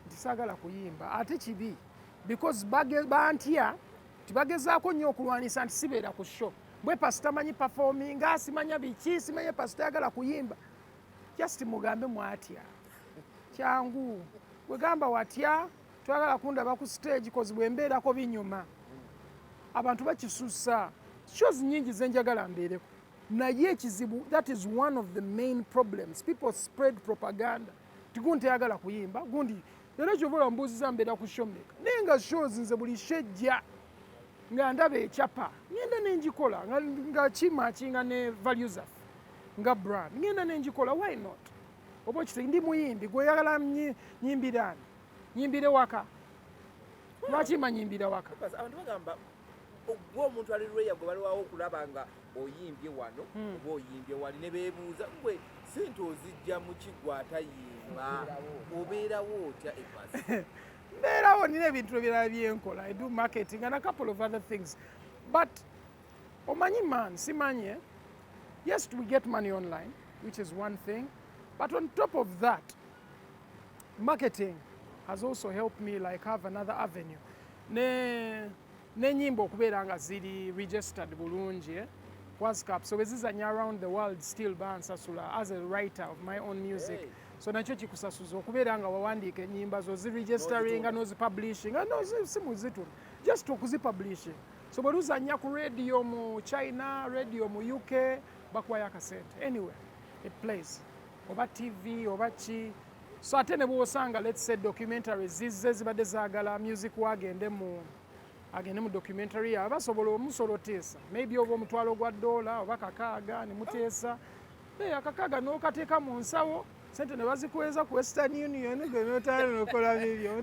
ntisagala kuyimba ate kibi because bantya tibagezaako nnyo okulwanisa nti sibeera ku show bwe pasita manyi performinga simanya biki simanya pasita yagala kuyimba just mugambe mwatya kyangu wegamba watya twagala kundaba ku stage kozi bwembeerako binyuma abantu bakisusa shows nyingi zenjagala mbeereko naye ekizibu that is one of the main problems people spread propaganda tigundi teyagala kuyimba gundi era kyova olaba mbuuziza mbeera ku show meka naye nga shows nze buli shejja nga ndaba ekyapa ngenda nengikola nga kimakinga ne value zaffe nga brand ngenda nengikola why not oba okite ndi muyimbi gweyagala nyimbirani nyimbire waka lwaki manyimbira waka ogwo omuntu ali lweya gwe baliwawo okulaba nga oyimbye wano hmm. oba oyimbye wali ne beebuuza gwe sente ozijja mu kigwa atayimba obeerawo otya ebasi mbeerawo nina ebintu ebirala byenkola i do marketing and a couple of other things but omanyi man simanyi eh? yes we get money online which is one thing but on top of that marketing has also helped me like have another avenue ne nenyimba okubeera nga ziri registered bulungi eh? wascap so bezizanya around the world still bansasula as a writer of my own music hey. so nakyo kikusasuza okubeera nga wawandiika enyimba zo ziregisteringa nozipublishinga nosimuzituna just okuzipublishing so bwe luzanya ku radio mu china radio mu uk bakuwayo akasente anyway it plays oba tv oba ki so ate ne bwosanga let's say documentary zizze zibadde zagala music wagende mu agende mu documentary yawe basobola omusola oteesa maybe oba omutwalo gwa dola oba kakaaga ne muteesa naye akakaaga n'okateeka mu nsawo sente ne bazikuweza ku western union gwe notayana nokola bibyo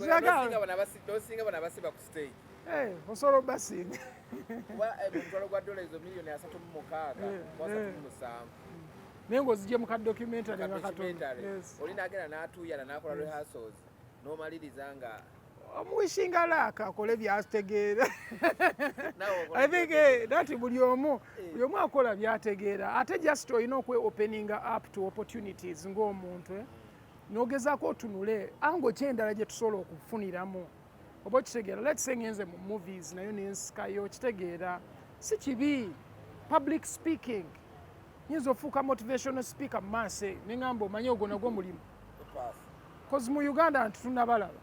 Eh, osolo basinga kuba eh, omutwalo gwa dola ezo miliyoni asatu mu mukaaga eh, asatu mu musanvu naye ng'ozigye mu ka documentary nga katonda oli nagenda n'atuuyana n'akola rehearsals n'omaliriza nga omuwishinga laaka akole byategeera i think eh, that buli omu eh. buli omu akola byategeera ate just olina okwe opening up to opportunities ng'omuntu eh? nogezaako otunule ango kyendala gye tusobola okufuniramu oba okitegeera let's say ngenze mu movies nayo nensikayo okitegeera si kibi public speaking nyinza ofuuka motivational speaker mumaaso eyo nengamba omanye ogwo nagwo mulimu bcause mu uganda nti tunabalaba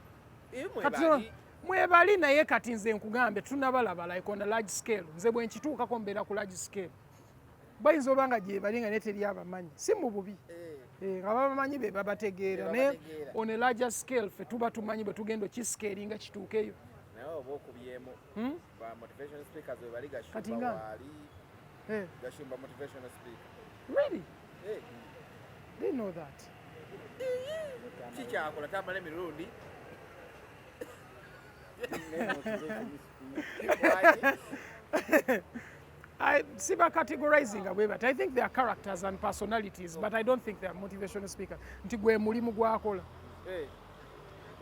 mwebali naye kati nze nkugambye tunabalaba like on a large scale nze bwenkituukako mbeera ku large scale bayinza oba nga gyebali nga naye teri abamanyi si mu bubi eh, nga babamanyi be babategeera naye on a larger scale fe tuba tumanyi bwe tugenda okiskeeri nga kituukeyo hmm? kati nga eh. really eh. they know that kikyakola tamala emirundi I see by categorizing away, but I think they are characters and personalities, but I don't think they are motivational speakers. Nti gwe mulimu gwakola. Hey.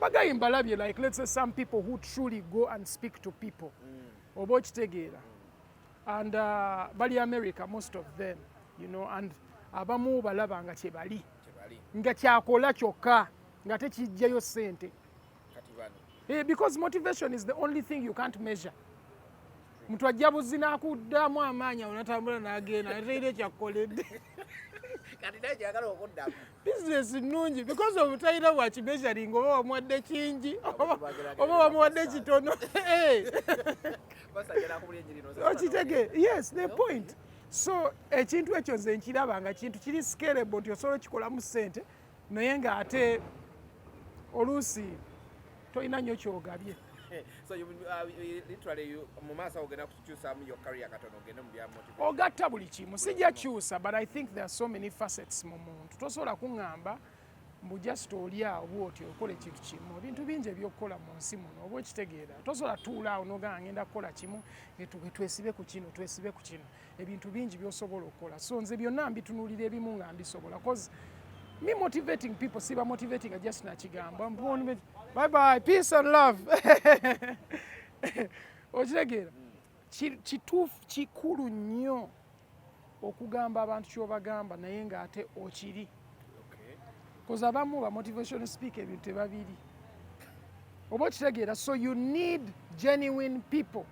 Bagayi mbalabye like let's say some people who truly go and speak to people. Mm. Oba okitegeera. Mm. And uh, bali America most of them, you know, and abamu balaba nga kye bali. Nga kyakola kyokka nga tekijjayo sente. kati bano eh, because motivation is the only thing you can't measure mtu ajja buzzi nakuddamu amaanyi awo natambula nagenda nateire ekyakukoledde business nnungi because of talina wakimeasuring oba wamuwadde kingi oba wamuwadde kitono eh. okitege yes the point so ekintu ekyo nze nkiraba nga kintu kiri scalable nti osobola okikolamu sente naye nga ate oluusi tolina nnyo kyogabye uh, ogatta buli kimu sijja kyusa but i think there are so many facets mu muntu tosobola kuŋŋamba mbu just oli awo bwoti okola ekintu kimu ebintu bingi ebyokukola mu nsi muno oba okitegeera tosobola tuulaawo nogamba ngenda kukola kimu twesibe ku kino twesibe ku kino ebintu bingi byosobola okukola so nze byonna mbitunulira ebimu nga mbisobola cause me motivating people siba motivating a just nakigambo bye bye peace and love okitegeera kituufu kikulu nnyo okugamba abantu kyobagamba naye nga ate okiri bcause abamu ba motivation speak ebintu tebabiri oba okitegeera so you need genuine people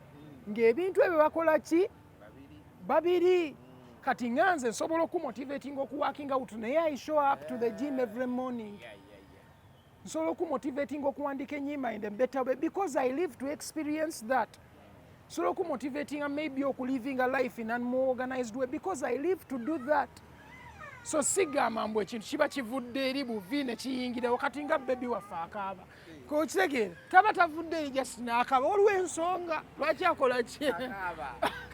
ng'ebintu ebyo bakola ki babiri kati nga nze nsobola okumotivatinga okuwakinga out naye i show up to the gym every morning nsobola okumotivatinga okuwandika enyimba in the better way because i live to experience that nsobola okumotivatinga maybe okuliving a life in an more organized way because i live to do that so sigamba mbu ekintu kiba kivudde eri buvi nekiyingirawo kati nga bebi waffe akaaba kokitegeera taba tavuddeyo just naakaba waliwo ensonga lwaki akola ki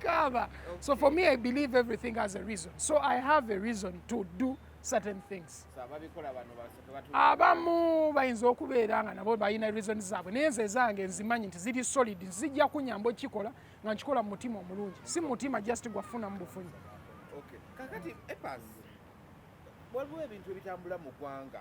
kaaba so for me i believe everything has a reason so i have a reason to do certain things abamu bayinza okubeera nga nabo balina reason zaabwe naye nze ezange nzimanyi nti ziri solid zijja kunyamba okukikola nga nkikola mu mutima omulungi si mu mutima just gwafuna mu bufunyi kakati epas waliwo ebintu ebitambula mu ggwanga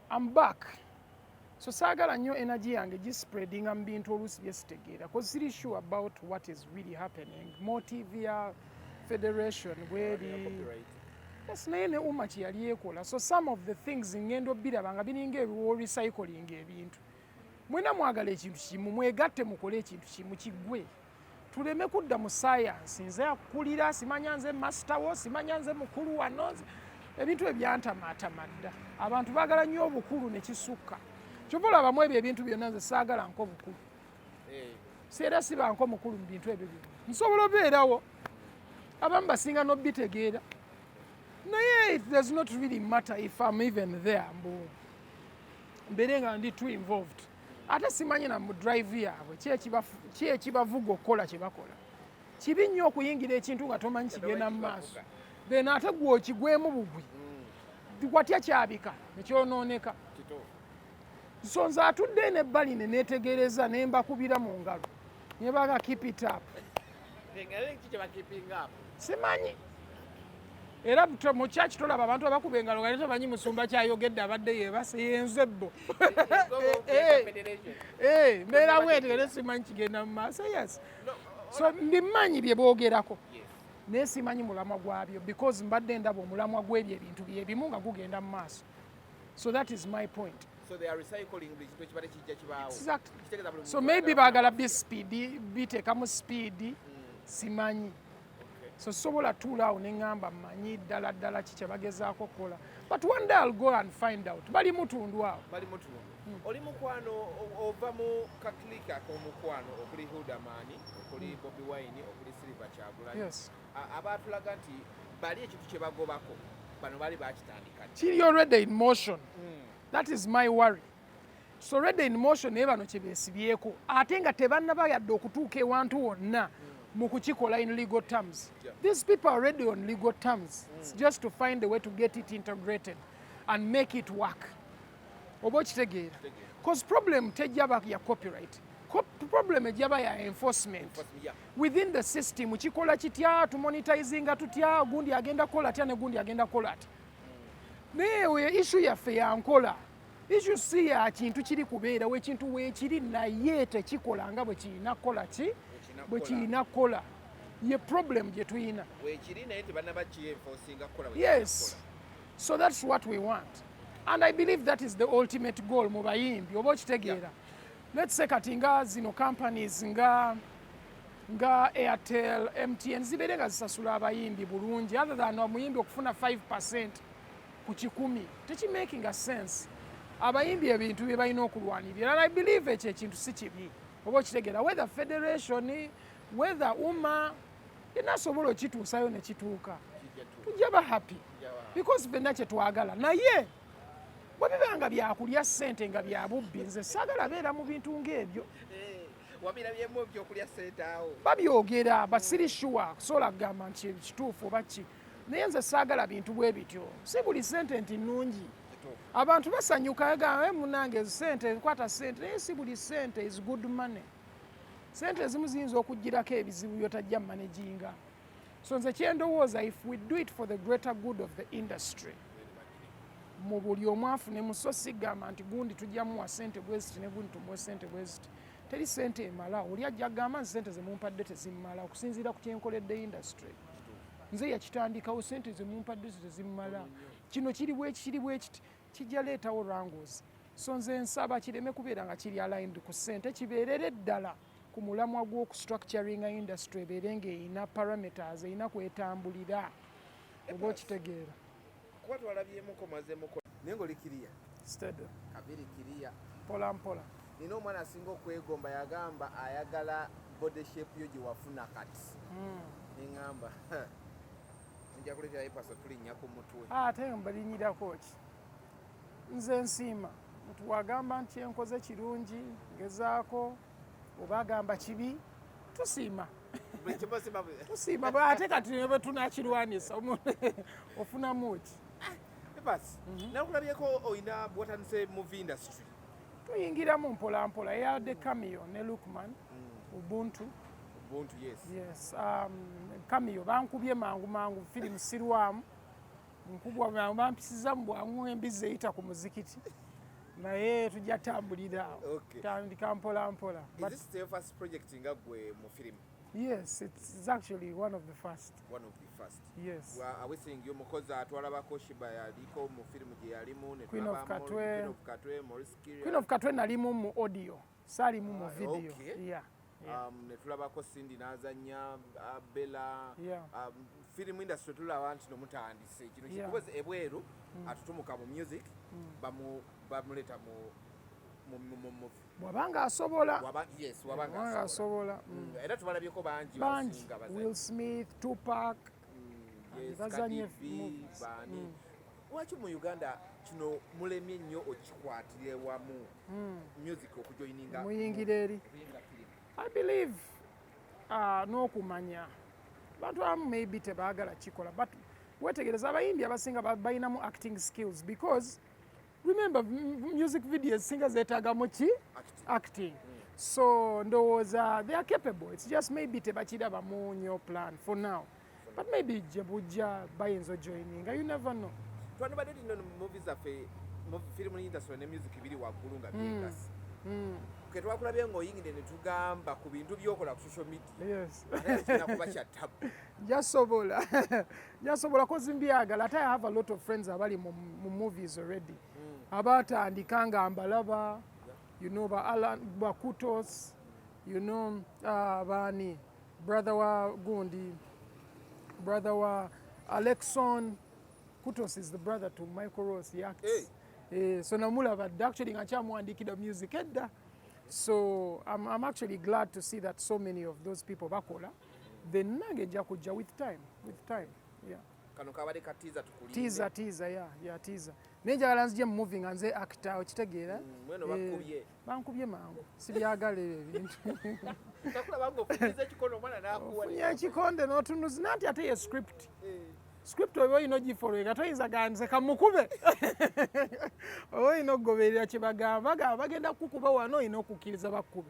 I'm back. So saagala nnyo energy yange gispreadinga mu bintu oluusi bye sitegeera cause siri sure about what is really happening motive ya federation bweri yes naye ne uma kyeyali ekola so some of the things ngenda obiraba nga biringa ebiwo recycling ebintu mwena mwagala ekintu kimu mwegatte mukole ekintu kimu kigwe tuleme kudda mu sayansi nze akulira simanya nze masita wo simanya nze mukulu wano ebintu ebyantamaatama dda abantu baagala nnyo obukulu ne kisukka kyova olabamu ebyo ebintu byonna nze saagala nko bukulu eh. seera sibanko mukulu mu bintu ebyo byona nsobola obeerawo abamu basinga nobitegeera naye it does not really matter if am even there mbu mbere nga ndi too involved ate simanyi na mu drive yaabwe ki ekibavuga okukola kye bakola kibi nnyo okuyingira ekintu nga tomanyi kigenda mu maaso then ate gwe okigwemu bugwi hmm. watya kyabika nekyonooneka so nze atudde nebbali ne neetegereza ne mbakubira mu ngalo Nye baga keep it up. Simanyi. Era mu church tolaba abantu abakuba engalo nga tebamanyi musumba kyayogedde abadde yebase yenze bo. Eh, eh, eh, mbeera bweti era simanyi kigenda mu maaso yes. So mbimanyi bye boogerako. Yes. naye simanyi mulamwa gwabyo because mbadde ndaba omulamwa gwebyo ebintu byebimu nga gugenda mu maaso so that is my point So they are recycling buli kintu ekibadde kijja kibaawo. Exactly. So maybe baagala bi speed biteekamu speed mm. simanyi. So sobola tuula awo ne ngamba manyi ddala ddala ki kye bagezaako okukola. But one day I'll go and find out. Bali mutundu awo. Bali mutundu. Mm. Oli mukwano ova mu kakilika k'omukwano okuli Hildamani, okuli mm. Bobi Wine, okuli Silver Kyagulanyi. Yes. abaatulaga nti bali ekintu kye bagobako bano baali bakitandika kiri already in motion hmm. that is my worry so already in motion naye bano kye beesibyeko ate nga tebannaba yadde okutuuka ewantu wonna hmm. mu kukikola in legal terms these people are already on legal terms hmm. it's just to find a way to get it integrated and make it work oba okitegeera cause problem tejjaba ya copyright problem ejjaba ya enforcement within the system kikola kitya tumonitizinga tutya gundi agenda kukola atya ne gundi agenda kukola atya naye oyo ishu yaffe yankola ishu si ya kintu kiri kubeerawo ekintu weekiri naye tekikola nga bwe kirina kukola ki bwe kirina kukola ye problem gye tulina yes so that's what we want and i believe that is the ultimate goal mu bayimbi oba okitegeera let's say kati nga zino companies nga nga airtel mtn zibeere nga zisasula abayimbi bulungi other than omuyimbi okufuna 5 percent ku kikumi tekimaking a sense abayimbi ebintu bye balina okulwanirira and i believe ekyo ekintu si kibi oba okitegeera whether federation whether uma yena asobola okituusayo ne kituuka tujja ba happy because fenna kye twagala naye bwe biba nga byakulya ssente nga bya bubbi nze saagala beera mu bintu ng'ebyo eh, babyogera basiri shuwa kusobola kugamba nti kituufu oba ki naye nze saagala bintu bwe bityo si buli ssente nti nnungi abantu basanyuka gamba eh, munange sente nkwata sente naye si buli sente is good money sente ezimu ziyinza okugirako ebizibu byotajja managinga so nze kyendowooza if we do it for the greater good of the industry mu buli omu afune muso sigamba nti gundi tujja muwa sente bweziti ne gundi tumuwe sente bweziti teri sente emala oli ajja gamba nti sente zemumpadde tezimumala okusinziira ku kyenkoledde industry nze yakitandikawo sente zemumpadde tezimumala kino kiri bwekiri bwekiti kijja leetawo wrangles so nze nsaba kireme kubeera nga kiri aligned ku ssente kibeerere ddala ku mulamwa gw'okustructuringa industry ebeere ng'erina parameters erina kwetambulira oba okitegeera kuba twalabyemuko mazemuko naye ngaoli kiriya stado kabiri kiriya mpola mpola nina omwana asinga okwegomba yagamba ayagala body shape yo gyewafuna kati hmm. neŋamba nja kuleetera epasa tulinnya ku mutwe ah, ate mbalinnyirako ki nze nsiima nti wagamba nti enkoze kirungi ngezaako oba agamba kibi tusiima tusiima ate kati nebe tunakirwanyisa omuntu ofunamu ki ah, epasi mhm. nakulabyeko olina bwatandise muvi industry tuyingiramu mpolampola eyabadde kamiyo ne lukman hmm. ubuntu Ubuntu, yes. Yes. Um, kamiyo bankubye mangu mangu firimu sirwamu nkubwa mangu bampisiza mu bwangu embizzi eyita ku muzikiti naye tujja tambulira okay. tandika mpolampola Is this the first project nga gwe mu firimu Yes, it's actually one of the first. One of the first. Yes. Wa awesingi omukozi atwala bakoshiba yaliko mu film gye yalimu ne Queen of Katwe. Queen of Katwe, Maurice Kiria. Queen of Katwe nalimu mu audio. Sali mu mu ah, video. Okay. Yeah. Yeah. Um, ne tulabako Cindy nazanya uh, Bella. Yeah. Um, film industry tulaba nti no mutandise kino yeah. kikoze ebweru mm. atutumuka mu music mm. bamu bamuleta mu mu mu mu wabanga asobola wabanga asobola mm. mm. era tubalabyeko bangi bangi Will Smith Tupac mm, bazanye movies lwaki mu Uganda kino mulemye nnyo okikwatire wamu music okujoininga muyingira eri I believe uh, n'okumanya bantu abamu maybe tebaagala kikola but wetegereza abayimbi abasinga balinamu acting skills because remember music videos singa zetagamu ki acting so ndowooza they are capable it's just maybe tebakirabamu nyo plan for now but maybe gye bujja bayinza ojoininga you never know twandibadde tino mumovi zaffe firimu industry ne music biri waggulu nga byegasi hmm. hmm. ketwakulabye ngaoyingide netugamba ku bintu byokola ku social media kuba kyattabu jasobola yasobola kozi mbyagala ate i have a lot of friends abali mu movies already mm. abatandika nga mbalaba you know ba alan bakutos you know uh, bani brother wa gundi brother wa alexon kutos is the brother to michael ross he acts hey. Eh, so namulaba dda actually nga kyamuwandiikira music edda so I'm, I'm actually glad to see that so many of those people bakola then nange nja kujja with time with time yeah kano kabade ka teaser tukulinde teaser teaser yeah yeah teaser naye njagala nzije mu movie nga nze actor okitegeera mm, mweno bakubye eh, bankubye mangu sibyagala ebyo ebintu takula bangu okujiza ekikono mwana nakuwa ya kikonde notunuzi nanti ate ye script eh. script oba olina ogifoloweka toyinza gandize kamukube oba olina okugoberera kye bagamba bagamba bagenda kukukuba wano olina okukkiriza bakkube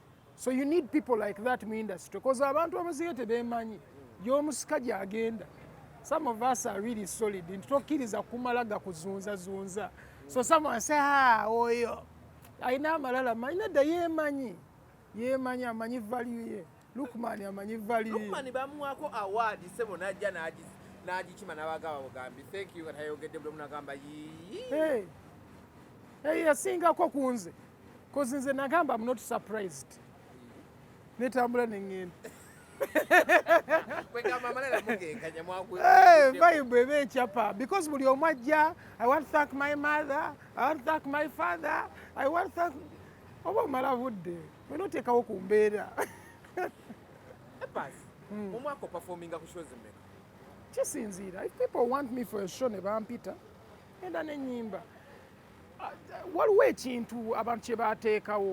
so you need people like that mu industry bcause abantu abaziga tebemanyi yomusika gyagenda some of us are really solid nti tokkiriza kumala gakuzunzazunza so someone say ha ah, oyo alina amalala manyi nadda yemanyi yemanyi amanyi value ye lukman amanyi value lukman bamuwako award sebo najja nagikima nabagaba bugambi thank you katayogedde buli omunagamba yii eyasingako kunze Cause nze nagamba I'm not surprised. Netambula nengenda. Vibe ebe ekyapa because buli omu ajja I want to thank my mother, I want to thank my father, I want to thank oba omala budde wena oteekawo ku mbeera. Hmm. Omwaka opafominga ku shows mmeka? Kisinziira. If people want me for a show ne bampita enda nenyimba waliwo ekintu abantu kye baateekawo